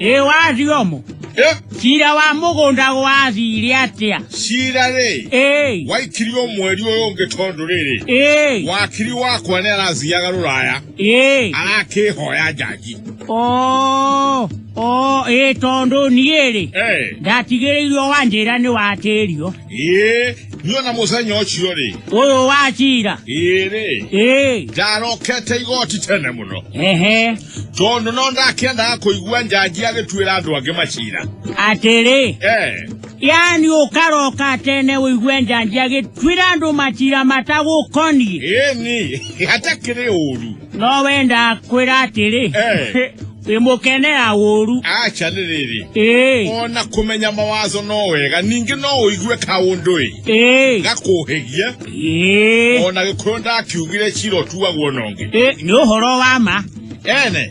ĩ wathio mo Eh, cira wa mũgũnda gwathire atĩa cira rĩ ĩĩ waikirio mweri ũyũ ũngĩ tondũ rĩrĩ ĩĩ wakiri wakwa nĩ arathiaga rũraya ĩĩ arakĩhoya njanji o o ĩĩ tondũ niĩ rĩ Eh. ndatigĩrĩirwo wanjĩra nĩ watĩrio Ee, niyo na mũthenya ũcio rĩ ũyũ wa cira ĩrĩ ĩĩ ndarokete igoti tene mũno ehe tondũ no ndakĩendaga kũigua njanji agĩtuĩra andũ angĩ macira atĩrĩ Eh, yani ũkaroka tene ũigue njanji agĩtuĩra andũ macira matagũkoniĩ ĩni hatakĩrĩ ũru no we ndakwĩra atĩrĩ Eh. ĩmũkenera ũru acha nĩ rĩrĩ ĩĩ ona kũmenya mawazo no wega ningĩ no ũigue kaũndũ-ĩ ĩĩ gakũhĩgie ĩĩ ona gĩkorwo ndakiugire cira ũtuagwo na ũngĩ Ĩ, nĩ ũhoro wa ma ene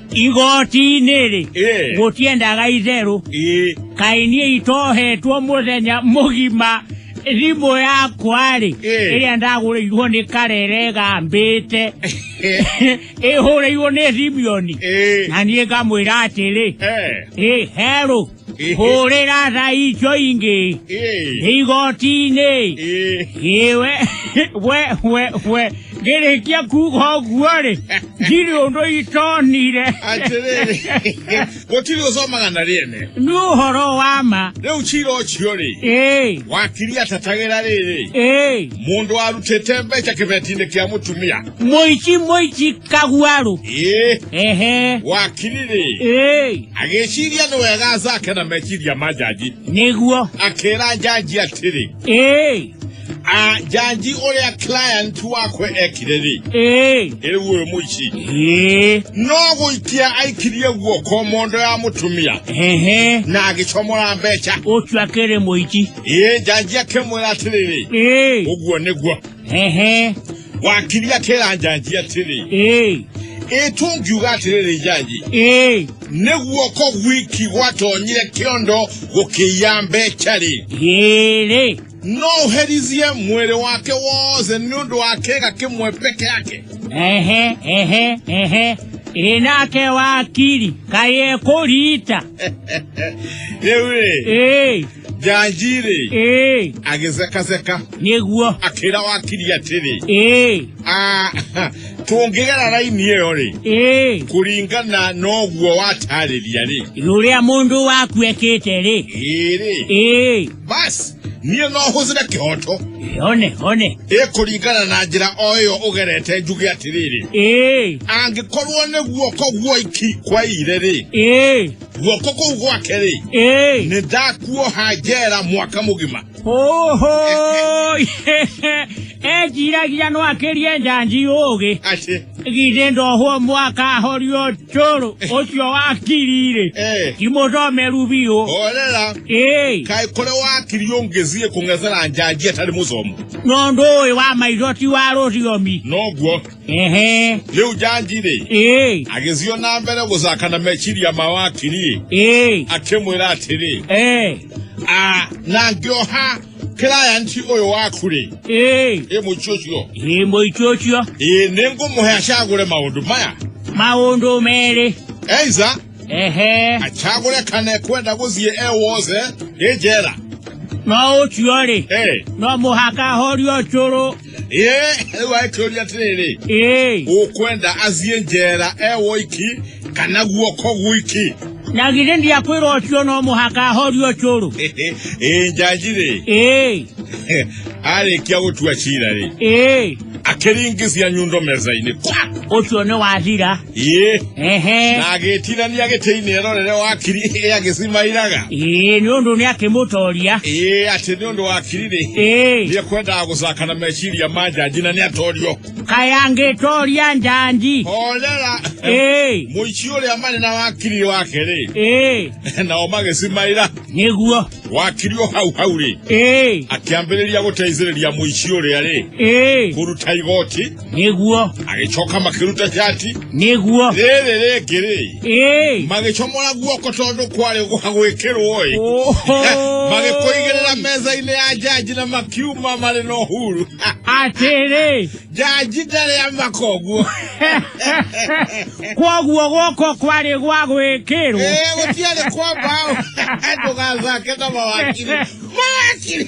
igoti-inĩ-rĩ Eh. gũtiendaga itherũ Ĩ. kaĩ niĩ itohetwo mũthenya mũgima thimũ yakwa-rĩ Eh. ĩrĩa ndagũrĩirwo nĩ karere gambĩte ĩhũrĩirwo nĩ thimioni Ĩ. na niĩ ngamwĩra atĩrĩ Eh. ĩ herũ hũrĩra thaico ingĩ igoti-inĩ iwe we we we ngĩrĩkia kuga ũguo rĩ ndirĩ ũndũ itonire atĩrĩrĩ gũtirĩ ũcomaga na rĩene nĩ ũhoro wa ma rĩu cira ũcio rĩ ĩĩ wakiri atatagĩra rĩrĩ ĩĩ mũndũ warutĩte mbeca kĩbeti-inĩ kĩa mũtumia Moichi moichi kaguaro. Ee. Ehe. Wakirire. Ee. Agĩciria nĩ wega zake na meciria ma njanji. Nĩguo. Akĩra njanji atĩrĩ. Ee. A njanji ũrĩa client wakwe ekire rĩ. Ee. Rĩu ũyũ mũici. Ee. No gũikia aikirie guoko mondo ya mũtumia. Ehe. Na agĩcomora mbeca. Ũcio akĩrĩ mũici. Ee njanji akĩmwĩra atĩrĩrĩ. Ee. Ũguo nĩguo. ehe wakiri atĩra njanji atĩrĩ ĩĩ ĩtũngiuga atĩrĩrĩ njanji ĩĩ nĩ guoko gwiki gwatonyire kĩondo gũkĩiya mbeca-rĩ ĩrĩ no ũherizie mwĩrĩ wake wothe nĩ ũndũ wa kĩga kĩmwe peke yake ehe ehe ehe ĩ nake wakiri kaĩ ekũrita rĩu-rĩ ĩĩ njanjirĩ ĩĩ agĩcekaceka nĩguo akĩra wakiri atĩrĩ ĩĩ "Ah, tũngĩgera raini ĩyo rĩ ĩĩ kũringana na ũguo watarĩria rĩ rũrĩa mũndũ waku ekĩte rĩ ĩrĩ ĩĩ basi niĩ no hũthĩre kĩhoto one one ĩ kũringana na njĩra o ĩyo ũgerete njuge atĩrĩrĩ ĩĩ angĩkorwo nĩguo koguo iki kwaire rĩ ĩĩ guoko kũu gwake rĩ Ĩĩ. nĩ ndakuoha njera mwaka mũgima Oho! Ejiragia no akĩrie njanji ũgĩ. aci Githĩ ndohwo mwaka ahorio njũrũ ũcio wa kirire. eh, Ti mũthomeru biũ. horera Ĩĩ. kaĩ kũrĩa wakiri ũngĩthiĩ kũng'ethera njanji atarĩ mũthomu Ng'ondũ ũyũ wa maitho ti wa rũthiomi. noguo ehe rĩu njanji-rĩ ĩĩ agĩthiĩ na mbere gũcaka na meciria ma wakiri ĩĩ akĩmwĩra atĩrĩ ĩĩ "Ah, na ngĩoha kĩrayanti ũyũ waku-rĩ ĩĩ ĩ mũici ũcio ĩĩ mũici ũcio ĩĩ nĩ ngũmũhe acagũre maũndũ maya maũndũ merĩ eiza ehe acagũre kana ekwenda gũthiĩ e wothe ĩ njera no ũcio-rĩ ĩ no mũhaka ahorio cũrũ ĩĩ rĩu aĩkĩũria atĩrĩrĩ ĩĩ ũkwenda athiĩ njera e woiki kana guoko gwiki na githĩ ndiakwĩra ũcio no mũhaka ahorio cũrũ ĩĩ njanji rĩ ĩĩ arĩkia gũtua cira rĩ ĩĩ akĩringithia nyundo metha-inĩ kwa ũcio nĩ wathira ĩĩ ehe na agĩtinania gĩtĩ-inĩ erorere wakiri ĩĩ agĩcimairaga ĩĩ nĩ ũndũ nĩ akĩmũtoria ĩĩ atĩ nĩ ũndũ wakiri-rĩ ĩĩ nĩ ekwendaga gũcaka na meciria ma njanji na nĩ atorio kayangĩtoria njanji horera ĩĩ mũici ũrĩa marĩ na wakiri wake-rĩ ĩĩ nao magĩcimaira nĩguo wakiri o hau hau-rĩ ĩĩ akĩambĩrĩria gũteithĩrĩria mũici ũrĩa-rĩ ĩĩ kũruta igoti nĩguo agĩcoka makĩruta cati nĩguo rĩrĩ rĩngĩ-rĩ ĩĩ magĩcomora guoko tondũ kwarĩ gwa gwĩkĩrwo-ĩ magĩkũigĩrĩra metha-inĩ ya njanji na makiuma marĩ na ũhuru atĩrĩ njanji ndarĩ amakoguo kwoguo gũkũ kwarĩ gwa gwĩkĩrwo ĩĩ gũtiarĩ kwa mbaũ ndũgathake na mawakiri mawakiri